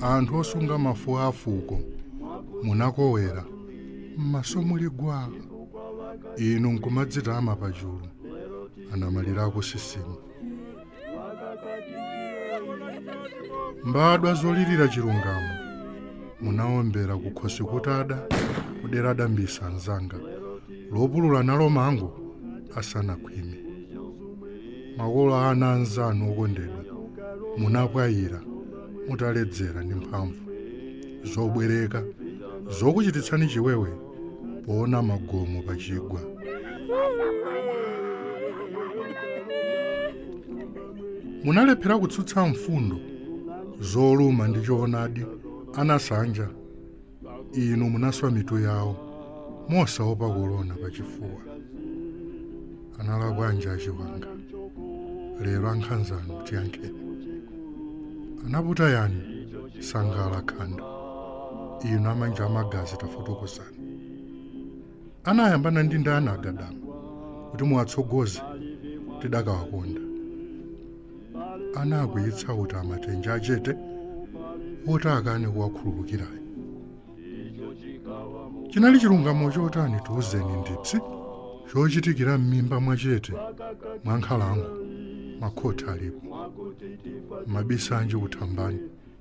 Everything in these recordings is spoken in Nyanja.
anthu osunga mafuwa a fuko munakowera m'maso muli gwa inu nkumadzitama pachulu anamalira akusisima mbadwa zolirira chilungamo munaombera kukhosi kutada kudera dambisa anzanga lopulula nalo mango asanakhwime makolo a ana anzanu okondedwa munapwayira mutaledzera ndi mphamvu zobwereka zokuchititsani chiwewe poona magomo pa chigwa munalephera kutsutsa mfundo zoluma ndi choonadi anasanja inu munaswa mitu yawo mosaopa korona pachifuwa analakwanji achiwanga lero ankhanzanu tiyankheni anaputa yani sangala khanda inu amanja amagazi tafotokozani anayambana ndi ndani agadama kuti muwatsogoze tidakawakonda anakwiyitsa uti amatenje achete oti akane kuwakhululukirayo chinali chilungamo chotani tiuzeni ndipsi chochitikira m'mimba mwachete mwa nkhalango makhoti alipo mabisanji kuthambani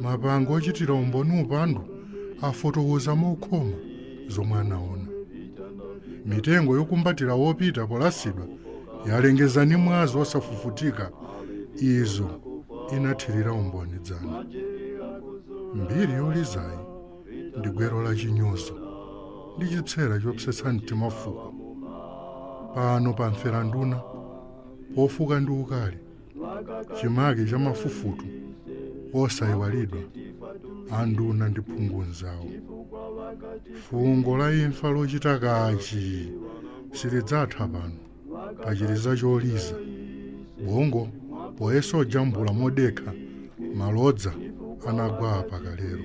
mapanga ochitira umboni upandu afotokoza mokhoma zomwe anaona mitengo yokumbatira wopita polasidwa yalengeza ndi mwazi wosafufutika izo inathirira umboni dzana mbiri yolizayi ndi gwero la chinyozo ndi chipsera chopsetsa mtima fuko pano pamfera nduna pofuka ndi ukali chimake cha mafufutu osayiwalidwa anduna ndi phungu nzawo fungo la imfa lochita kachi silidzatha pano pachiliza choliza bongo poyesa jambula modekha malodza anagwa apa kalero